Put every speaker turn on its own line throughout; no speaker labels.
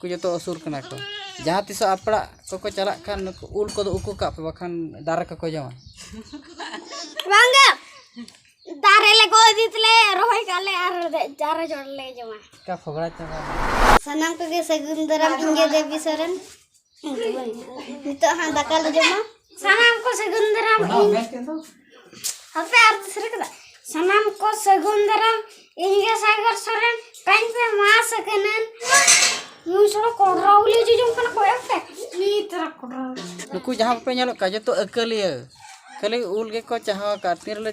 ᱩᱱᱠᱩ ᱡᱚᱛᱚ ᱟᱹᱥᱩᱞ ᱠᱟᱱᱟ ᱠᱚ ᱡᱟᱦᱟᱸ ᱛᱤᱥᱚᱜ ᱟᱯᱲᱟᱜ ᱠᱚᱠᱚ ᱪᱟᱞᱟᱜ ᱠᱷᱟᱱ ᱱᱩᱠᱩ ᱩᱞ ᱠᱚᱫᱚ ᱩᱠᱩ ᱠᱟᱜ ᱯᱮ ᱵᱟᱠᱷᱟᱱ ᱫᱟᱨᱮ ᱠᱚᱠᱚ ᱡᱚᱢᱟ
ᱵᱟᱝᱜᱮ ᱫᱟᱨᱮ ᱞᱮ ᱜᱚᱫ ᱤᱫᱤ ᱛᱮᱞᱮ ᱨᱚᱦᱚᱭ ᱠᱟᱜ ᱞᱮ ᱟᱨ ᱫᱟᱨᱮ ᱡᱚᱲ ᱞᱮ ᱡᱚᱢᱟ ᱪᱮᱠᱟ ᱯᱷᱚᱜᱽᱲᱟ ᱪᱟᱵᱟ
ᱥᱟᱱᱟᱢ ᱠᱚᱜᱮ
ᱥᱟᱹᱜᱩᱱ ᱫᱟᱨᱟᱢ ᱤᱧᱜᱮ ᱫᱮᱵᱤ ᱥᱚᱨᱮᱱ ᱱᱤᱛᱚᱜ ᱦᱟᱸᱜ ᱫᱟᱠᱟ ᱞᱮ ᱡᱚᱢᱟ ᱥᱟᱱᱟᱢ ᱠᱚ ᱥᱟᱹᱜᱩᱱ ᱫᱟᱨᱟᱢ ᱤᱧ ᱦᱟᱯᱮ ᱟᱨ ᱫᱤᱥᱟᱹ ᱠᱟᱫᱟ ᱥᱟᱱᱟᱢ ᱠᱚ ᱥᱟᱹᱜᱩᱱ ᱫᱟᱨᱟᱢ ᱤᱧ ᱜᱮ ᱥᱟᱜᱚᱨ ᱥᱚᱨᱮᱱ ᱠᱟᱹᱧ ᱯᱮ ᱢᱟᱥ ᱟᱠᱟᱱᱟᱹᱱ ᱱᱩᱭ ᱥᱚᱲᱚ ᱠᱚᱰᱨᱟ ᱩᱞᱤ ᱡᱚᱡᱚᱢ ᱠᱟᱱᱟ ᱠᱚ ᱮᱯᱮ ᱩᱞᱤ ᱛᱟᱨᱟ ᱠᱚᱰᱨᱟ ᱱᱩᱠᱩ ᱡᱟᱦᱟᱸ ᱠᱚᱯᱮ
ᱧᱮᱞᱚᱜ ᱠᱟᱱᱟ ᱡᱚᱛᱚ ᱟᱹᱠᱟᱹᱞᱤᱭᱟᱹ ᱠᱷᱟᱹᱞᱤ ᱩᱞ ᱜᱮᱠᱚ ᱪᱟᱦᱟᱣ ᱟᱠᱟᱫ ᱛᱤᱱ ᱨᱮᱞᱮ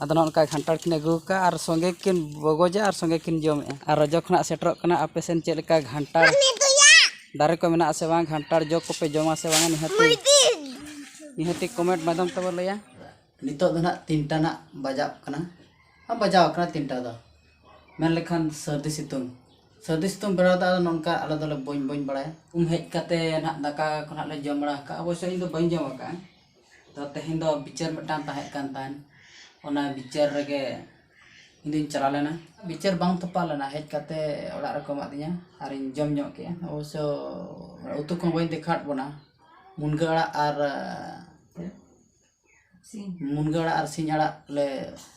ᱟᱫᱚ ᱱᱚᱜᱼᱚ ᱱᱚᱝᱠᱟ ᱠᱷᱟᱱᱴᱟᱲ ᱠᱤᱱ ᱟᱹᱜᱩ ᱟᱠᱟᱫᱼᱟ ᱟᱨ ᱥᱚᱸᱜᱮ ᱠᱤᱱ ᱵᱚᱜᱚᱡᱟ ᱟᱨ ᱥᱚᱸᱜᱮ ᱠᱤᱱ ᱡᱚᱢᱮᱫᱼᱟ ᱟᱨ ᱨᱚᱡᱚ ᱠᱷᱚᱱᱟᱜ ᱥᱮᱴᱮᱨᱚᱜ ᱠᱟᱱᱟ ᱟᱯᱮ ᱥᱮᱫ ᱪᱮᱫ ᱞᱮᱠᱟ ᱠᱷᱟᱱᱴᱟᱲ ᱫᱟᱨᱮ ᱠᱚ ᱢᱮᱱᱟᱜᱼᱟ ᱥᱮ ᱵᱟᱝ ᱠᱷᱟᱱᱴᱟᱲ ᱡᱚ ᱠᱚᱯᱮ ᱡᱚᱢᱟ ᱥᱮ ᱵᱟᱝ ᱱᱤᱦᱟᱹᱛ ᱱᱤᱦᱟᱹᱛ ᱠᱚᱢᱮᱱᱴ ᱢᱟᱫᱽᱫᱷᱚᱢ ᱛᱮᱵᱚ ᱞᱟᱹᱭᱟ ᱱᱤᱛᱚᱜ ᱫᱚ ᱱᱟᱜ ᱛᱤᱱᱴᱟ ᱱᱟᱜ ᱵᱟᱡᱟᱜ ᱠᱟᱱᱟ ᱟᱨ ᱵᱟᱡᱟᱣ ᱠᱟᱱᱟ ᱛᱤᱱᱴᱟ ᱫᱚ ᱢᱮᱱ ᱞᱮᱠᱷᱟᱱ ᱥᱟᱹᱨᱫᱤ ᱥᱤᱛᱩᱝ ᱥᱟᱹᱨᱫᱤ ᱥᱤᱛᱩᱝ ᱵᱮᱲᱟ ᱫᱚ ᱱᱚᱝᱠᱟ ᱟᱞᱮ ᱫᱚᱞᱮ ᱵᱚᱧ ᱵᱚᱧ ᱵᱟᱲᱟᱭᱟ ᱩᱢ ᱦᱮᱡ ᱠᱟᱛᱮ ᱱᱟᱜ ᱫᱟᱠᱟ ᱠᱚ ᱱᱟᱜ ᱞᱮ ᱡᱚᱢ ᱵᱟᱲᱟ ᱟᱠᱟᱫᱼᱟ ᱚᱵᱚᱥᱥᱳᱭ ᱤᱧ ᱫᱚ ᱵᱟᱹᱧ ᱡᱚᱢ ᱟᱠᱟᱫᱼᱟ ᱛᱚ ᱛᱮᱦᱮᱧ ᱫᱚ ᱵᱤᱪᱟᱹᱨ ᱢᱤᱫᱴᱟᱱ ᱛᱟᱦᱮᱸ ᱠᱟᱱ ᱛᱟᱦᱮᱸᱫ ᱚᱱᱟ ᱵᱤᱪᱟᱹᱨ ᱨᱮᱜᱮ ᱤᱧ ᱫᱚᱧ ᱪᱟᱞᱟᱣ ᱞᱮᱱᱟ ᱵᱤᱪᱟᱹᱨ ᱵᱟᱝ ᱛᱚᱯᱟᱜ ᱞᱮᱱᱟ ᱦᱮᱡ ᱠᱟᱛᱮ ᱚᱲᱟᱜ ᱨᱮᱠᱚ ᱮᱢᱟᱜ ᱫᱤᱧᱟ ᱟᱨᱤᱧ ᱡᱚᱢ ᱧᱚᱜ ᱠᱮᱜᱼᱟ ᱚᱵᱚᱥᱥᱚ ᱩᱛᱩ ᱠᱚᱦᱚᱸ ᱵᱟᱹᱧ ᱫᱮᱠᱷᱟᱣᱟᱫ ᱵᱚᱱᱟ ᱢᱩᱱᱜᱟᱹ ᱟᱲᱟᱜ ᱟᱨ ᱢᱩᱱᱜᱟᱹ ᱟᱲᱟᱜ ᱟᱨ ᱥᱤᱧ ᱟᱲᱟᱜ ᱞᱮ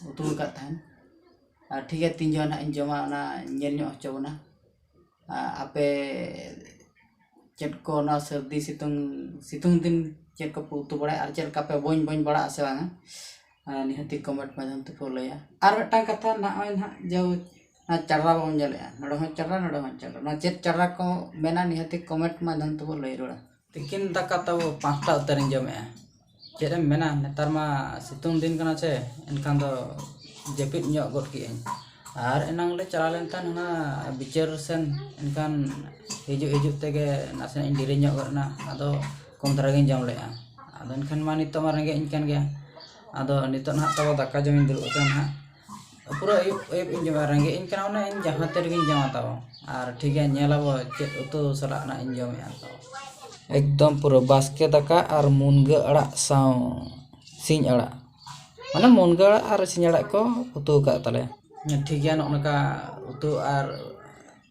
ᱩᱛᱩ ᱟᱠᱟᱫ ᱛᱟᱦᱮᱸᱫ ᱟᱨ ᱴᱷᱤᱠ ᱜᱮᱭᱟ ᱛᱤᱱ ᱡᱚᱠᱷᱚᱱ ᱦᱟᱸᱜ ᱤᱧ ᱡᱚᱢᱟ ᱚᱱᱟ ᱧᱮᱞ ᱧᱚᱜ ᱦᱚᱪᱚ ᱵᱚᱱᱟ ᱟᱯᱮ ᱪᱮᱫ ᱠᱚ ᱱᱚᱣᱟ ᱥᱟᱹᱨᱫᱤ ᱥᱤᱛᱩᱝ ᱥᱤᱛᱩᱝ ᱫᱤᱱ ᱪᱮᱫ ᱠᱚᱯᱮ ᱩᱛᱩ ᱵᱟᱲᱟᱭᱟ ᱟᱨ ᱪᱮᱫ ᱞᱮᱠᱟ ᱯᱮ ᱵᱚᱧ ᱵᱚᱧ ᱵᱟᱲᱟᱜᱼᱟ ᱥᱮ ᱵᱟᱝᱟ ᱱᱤᱦᱟᱹᱛᱤ ᱠᱚᱢᱮᱱᱴ ᱢᱟᱫᱽᱫᱷᱚᱢ ᱛᱮᱠᱚ ᱞᱟᱹᱭᱟ ᱟᱨ ᱢᱤᱫᱴᱟᱱ ᱠᱟᱛᱷᱟ ᱱᱚᱜᱼᱚᱭ ᱱᱟᱦᱟᱜ ᱡᱮ ᱱᱚᱣᱟ ᱪᱟᱨᱟ ᱵᱚᱱ ᱧᱮᱞᱮᱫᱼᱟ ᱱᱚᱰᱮ ᱦᱚᱸ ᱪᱟᱨᱟ ᱱᱚᱰᱮ ᱦᱚᱸ ᱪᱟᱨᱟ ᱱᱚᱣᱟ ᱪᱮᱫ ᱪᱟᱨᱟ ᱠᱚ ᱢᱮᱱᱟ ᱱᱤᱦᱟᱹᱛᱤ ᱠᱚᱢᱮᱱᱴ ᱢᱟᱫᱽᱫᱷᱚᱢ ᱛᱮᱵᱚᱱ ᱞᱟᱹᱭ ᱨᱩᱣᱟᱹᱲᱟ ᱛᱤᱠᱤᱱ ᱫᱟᱠᱟ ᱛᱟᱵᱚ ᱯᱟᱸᱪᱴᱟ ᱩᱛᱟᱹᱨᱤᱧ ᱡᱚᱢᱮᱜᱼᱟ ᱪᱮᱫ ᱮᱢ ᱢᱮᱱᱟ ᱱᱮᱛᱟᱨ ᱢᱟ ᱥᱤᱛᱩᱝ ᱫᱤᱱ ᱠᱟᱱᱟ ᱥᱮ ᱮᱱᱠᱷᱟᱱ ᱫᱚ ᱡᱟᱹᱯᱤᱫ ᱧᱚᱜ ᱜᱚᱫ ᱠᱮᱜ ᱟᱹᱧ ᱟᱨ ᱮᱱᱟᱝ ᱞᱮ ᱪᱟᱞᱟᱣ ᱞᱮᱱ ᱛᱟᱦᱮᱱ ᱚᱱᱟ ᱵᱤᱪᱟᱹᱨ ᱥᱮᱱ ᱮᱱᱠᱷᱟᱱ ᱦᱤᱡᱩᱜ ᱦᱤᱡᱩᱜ ᱛᱮᱜᱮ ᱱᱟᱥᱮᱱᱟᱜ ᱤᱧ ᱫᱮᱨᱤ ᱧᱚᱜ ᱜᱚᱫ ᱮᱱᱟ ᱟᱫᱚ ᱠᱚᱢ ᱫᱷᱟᱨᱟ ᱜᱤᱧ ᱡᱚᱢ ᱞᱮᱜᱼᱟ ᱟᱫᱚ ᱮᱱᱠᱷᱟᱱ ᱢᱟ ᱱᱤᱛᱚᱜ ᱢᱟ ᱨᱮᱸᱜᱮᱡ ᱤᱧ ᱠᱟᱱ ᱜᱮᱭᱟ ᱟᱫᱚ ᱱᱤᱛᱚᱜ ᱱᱟᱦᱟᱜ ᱛᱟᱵᱚ ᱫᱟᱠᱟ ᱡᱚᱢᱤᱧ ᱫᱩᱲᱩᱵ ᱟᱠᱟᱱᱟ ᱱᱟᱦᱟᱜ ᱯᱩᱨᱟᱹ ᱟᱹᱭᱩᱵ ᱟᱹᱭᱩᱵ ᱤᱧ ᱡᱚᱢᱟ ᱨᱮᱸᱜᱮᱡ ᱤᱧ ᱠᱟᱱᱟ ᱢᱟᱱᱮ ᱤᱧ ᱡᱟᱦᱟᱸ ᱛᱤ ᱨᱮᱜᱮᱧ ᱡᱚᱢᱟ ᱛᱟᱣ ᱟᱨ ᱴᱷᱤᱠ ᱜᱮᱭᱟ ᱧᱮᱞ ᱟᱵᱚ ᱪᱮᱫ ᱩᱛᱩ ᱥᱟᱞᱟᱜ ᱱᱟᱜ ᱤᱧ ᱡᱚᱢᱮᱜᱼᱟ ᱛᱟᱣ ᱮᱠᱫᱚᱢ ᱯᱩᱨᱟᱹ ᱵᱟᱥᱠᱮ ᱫᱟᱠᱟ ᱟᱨ ᱢᱩᱱᱜᱟᱹ ᱟᱲᱟᱜ ᱥᱟᱶ ᱥᱤᱧ ᱟᱲᱟᱜ ᱢᱟᱱᱮ ᱢᱩᱱᱜᱟᱹ ᱟᱲᱟᱜ ᱟᱨ ᱥᱤᱧ ᱟᱲᱟᱜ ᱠᱚ ᱩᱛᱩ ᱟᱠᱟᱫ ᱛᱟᱞᱮᱭᱟ ᱴᱷᱤᱠ ᱜᱮᱭᱟ ᱱᱚᱜᱼᱚ ᱱᱚᱝᱠᱟ ᱩᱛᱩ ᱟᱨ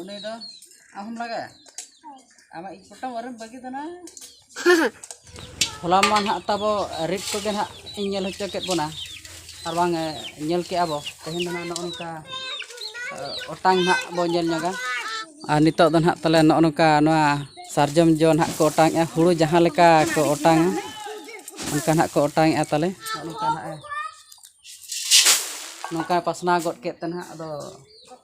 ᱩᱱᱤ ᱫᱚ ᱟᱢ ᱦᱚᱢ ᱞᱟᱜᱟᱭᱟ ᱟᱢᱟᱜ ᱤᱡ ᱯᱚᱴᱟᱢ ᱟᱨᱮᱢ ᱵᱟᱹᱜᱤ ᱫᱟᱱᱟ ᱦᱚᱞᱟ ᱢᱟ ᱱᱟᱦᱟᱜ ᱛᱟᱵᱚ ᱨᱮᱴ ᱠᱚᱜᱮ ᱱᱟᱦᱟᱜ ᱤᱧ ᱧᱮᱞ ᱦᱚᱪᱚ ᱠᱮᱫ ᱵᱚᱱᱟ ᱟᱨ ᱵᱟᱝ ᱧᱮᱞ ᱠᱮᱜᱼᱟ ᱵᱚ ᱛᱮᱦᱮᱧ ᱫᱚ ᱱᱟᱦᱟᱜ ᱱᱚᱜᱼᱚ ᱱᱚᱝᱠᱟ ᱚᱴᱟᱝ ᱱᱟᱦᱟᱜ ᱵᱚ ᱧᱮᱞ ᱧᱚᱜᱟ ᱟᱨ ᱱᱤᱛᱚᱜ ᱫᱚ ᱱᱟᱦᱟᱜ ᱛᱟᱞᱮ ᱱᱚᱜᱼᱚ ᱱᱚᱝᱠᱟ ᱱᱚᱣᱟ ᱥᱟᱨᱡᱚᱢ ᱡᱚ ᱱᱟᱦᱟᱜ ᱠᱚ ᱚᱴᱟᱝᱮᱜᱼᱟ ᱦᱩᱲᱩ ᱡᱟᱦᱟᱸ ᱞᱮᱠᱟ ᱠᱚ ᱚᱴᱟᱝᱟ ᱚᱱᱠᱟ ᱱᱟᱦᱟᱜ ᱠᱚ ᱚᱴᱟᱝᱮᱜᱼᱟ ᱛᱟᱞᱮ ᱱᱚᱜᱼᱚ ᱱᱚᱝᱠᱟ ᱱᱟᱦᱟᱜ ᱱᱚᱝᱠᱟ ᱯᱟᱥᱱᱟᱣ ᱜᱚᱫ ᱠᱮᱫ ᱛᱮ ᱱᱟᱦᱟᱜ ᱟᱫᱚ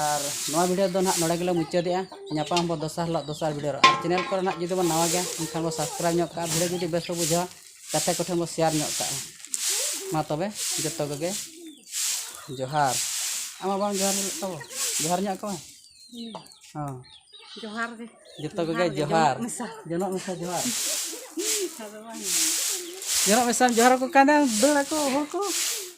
ᱟᱨ ᱱᱚᱣᱟ ᱵᱷᱤᱰᱤᱭᱳ ᱫᱚ ᱱᱟᱦᱟᱜ ᱱᱚᱰᱮ ᱜᱮᱞᱮ ᱢᱩᱪᱟᱹᱫᱮᱜᱼᱟ ᱧᱟᱯᱟᱢ ᱟᱵᱚᱱ ᱫᱚᱥᱟᱨ ᱦᱤᱞᱳᱜ ᱫᱚᱥᱟᱨ ᱵᱷᱤᱰᱤᱭᱳ ᱨᱮ ᱟᱨ ᱪᱮᱱᱮᱞ ᱠᱚᱨᱮ ᱱᱟᱦᱟᱜ ᱡᱩᱫᱤ ᱵᱚᱱ ᱱᱟᱣᱟ ᱜᱮᱭᱟ ᱮᱱᱠᱷᱟᱱ ᱵᱚᱱ ᱥᱟᱵᱥᱠᱨᱟᱭᱤᱵᱽ ᱧᱚᱜ ᱠᱟᱜᱼᱟ ᱵᱷᱤᱰᱤᱭᱳ ᱡᱩᱫᱤ ᱵᱮᱥ ᱵᱚᱱ ᱵᱩᱡᱷᱟᱹᱣᱟ ᱜᱟᱛᱮ ᱠᱚᱴᱷᱮᱱ ᱵᱚᱱ ᱥᱮᱭᱟᱨ ᱧᱚᱜ ᱠᱟᱜᱼᱟ ᱢᱟ ᱛᱚᱵᱮ ᱡᱚᱛᱚ ᱠᱚᱜᱮ ᱡᱚᱦᱟᱨ ᱟᱢ ᱢᱟ ᱵᱟᱢ ᱡᱚᱦᱟᱨ ᱧᱚᱜ ᱠᱚᱣᱟ ᱡᱚᱦᱟᱨ ᱧᱚᱜ ᱠᱚᱣᱟ ᱦᱚᱸ ᱡᱚᱦᱟᱨ ᱜᱮ ᱡᱚᱛᱚ ᱠᱚᱜᱮ ᱡᱚᱦᱟᱨ
ᱡᱚᱱᱚᱜ
ᱢᱮᱥᱟ ᱡᱚᱦᱟᱨ ᱡᱚᱱᱚᱜ ᱢᱮᱥᱟᱢ ᱡᱚᱦᱟᱨ ᱟᱠᱚ ᱠᱟᱱᱟ ᱫᱟᱹᱲ ᱟᱠᱚ ᱦᱚᱲ ᱠᱚ